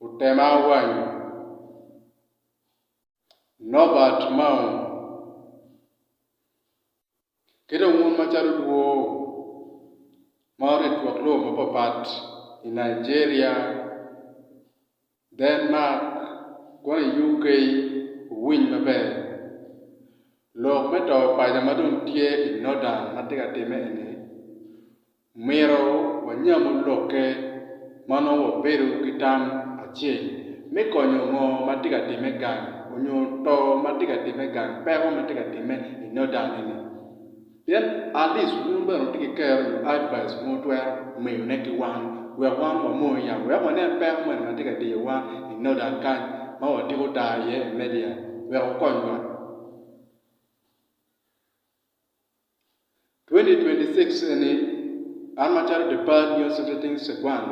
otema awanyo. Nobert Maung, Ki dong wun macalo dwoo ma orit lwak lobo mapapat i Nigeria, Denmark, kono i UK wuwiny maber. Lok me to paco ma dong tye i Northern ma tye ka timme eni, Omyero wanyamu lokke ma nongo wabedo ki tam acel me konyo ngo ma tye ka timme gang onyo to ma tye ka timme gang peko ma tye ka timme i noda ni ni. Pien atleast wun bene wutye ki kero nyo advice ma wutwero miyo ne ki wan wek wan wa moyo yam wek wanen peko moni ma tye ka diyo wan i noda kany ma wa tiko ta iye i media wek wukony wa. 2026 eni, an macalo The Bad News Editing Seguan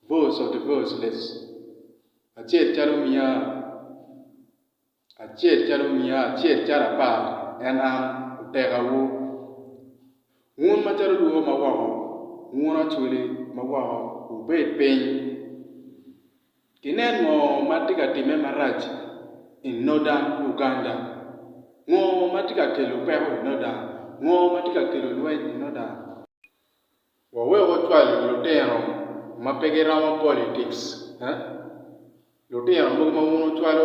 Voice of the Voiceless, acel calo omiya acel calo omiya acel calo apar en an otekawu, wun macalo lwor ma woko, wun acwili ma woko wubed piny Ginen ngo ma tye ka timme marac i Northern Uganda? Ngo ma tye ka kelo peko i Northern? Ngo ma tye ka kelo lweny i Northern? Wawek wacwal lutino ma pe giromo politics eh? Lutino mogo ma wun wucwalo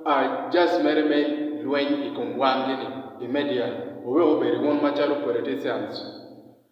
are just mere me lweny i kom wangi ni i media, wawek obedi wun macalo politicians.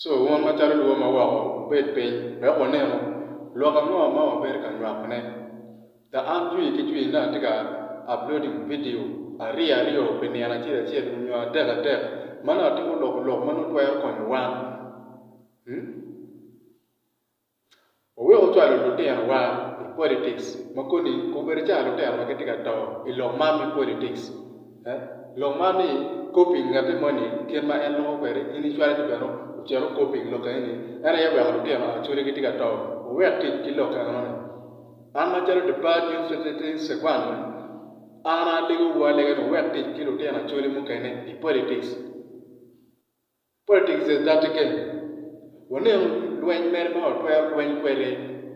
Co wun macalo lwor ma woko wubed piny wek wunenu lok ango ma wabedo ka nywakone. The An Jwi ki Jwi ne atye ka uploading vidio aryo aryo pi nino acel acel onyo adek adek ma nongo atimo loko lok ma nongo twero konyo wan. Wawek ocwalo lutinowa i politics ma koni kong bedo cawa lutino ma gitye ka to i lok man me politics. Lok man ni copying ngatte moni kit ma en loko kwede in icwale ni bene ocit ocopying lok eni en aye oweko lutino acodi gitye ka to. Wuwek tic ki lok enoni. An macalo Deparred Youth Secretary Sekwani an alegowu alega ni wuwek tic ki lutino acodi mukene i politics. Politics is dirty game. Wanenu lweny mere ma watwero lweny kwede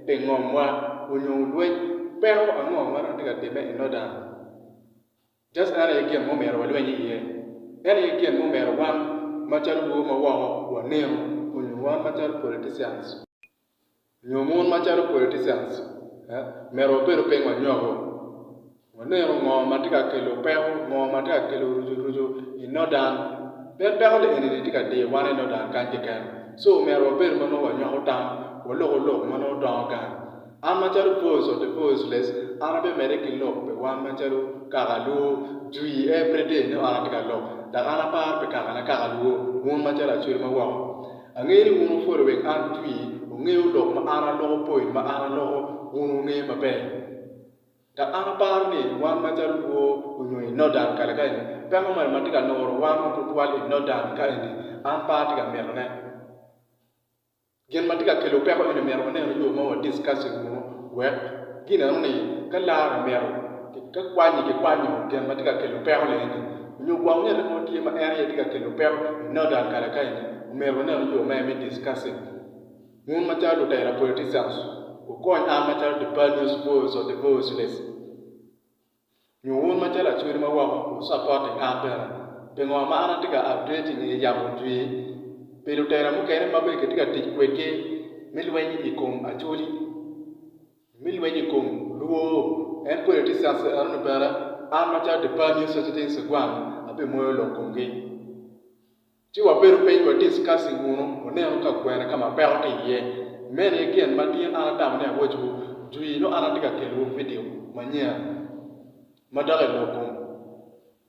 pi ngomwa onyo lweny peko ango ma dong tye ka timme i Northern. Just en aye gin ma omyero walweny iye. En aye gin ma omyero wan macalo lwo ma woko wanenu onyo wan macalo politicians. nyo mon macalo politicians myero wabedo piny wanywako waneno ngo matye ka kelo peko ngo matye ka kelo rucu rucu i northern pien peko ni eni tye ka diyo wan i northern kany keken so myero wabed ma nongo wanywako tam waloko lok ma nongo dongo gang an macalo voice of the voiceless an abimede ki lok pi wan macalo kaka luo jwi everyday ni wan atye ka lok dok an aparo pi kakane kaka luo mon macalo acwelo ma woko Angeyo ni wun wupwoda wek an atwi, wugeyo lok ma an aloko poin ma an aloko wun wungeyo maber. Dok an aparo ni wan macalo lwor onyo i Nodan kare ka eni, peko moni ma tye ka nuro wan ma tutwal i Nodan ka eni an pe atye ka mito ne. Gin ma tye ka kelo peko eni myero wanenu yo ma wa discuss i wunu wek ginenu ni ka lar omito ka kwanyi ki kwanyo gin ma tye ka kelo peko ni eni, nyo gwok nge lok mo tye ma en aye tye ka kelo peko i Northern kare ka eni, omyero wanenu yoo me me discuss it. Wun macalo lutela politicians wukony an macalo the panios voice of the voiceless nyo wun macalo Acholi ma woko wu supporting an bene pingo ma an atye ka addressing i yamo jwir pi lutela mukene ma bene kitye ka tic kwedgi me lweny i kom Acholi. Me lweny i kom lwor, en pwod etye South Sudan, ento bene an macalo Department News Society in Segwang abimuoyo lok komgi. Ci wabedo piny wa discussing wunu, wunenu ka kwene ka ma peko tye iye. Meno aye gin ma tin an atamo ni awacciwu jwi nongo an atye ka kelowu vidio manyen ma dok i lok kom.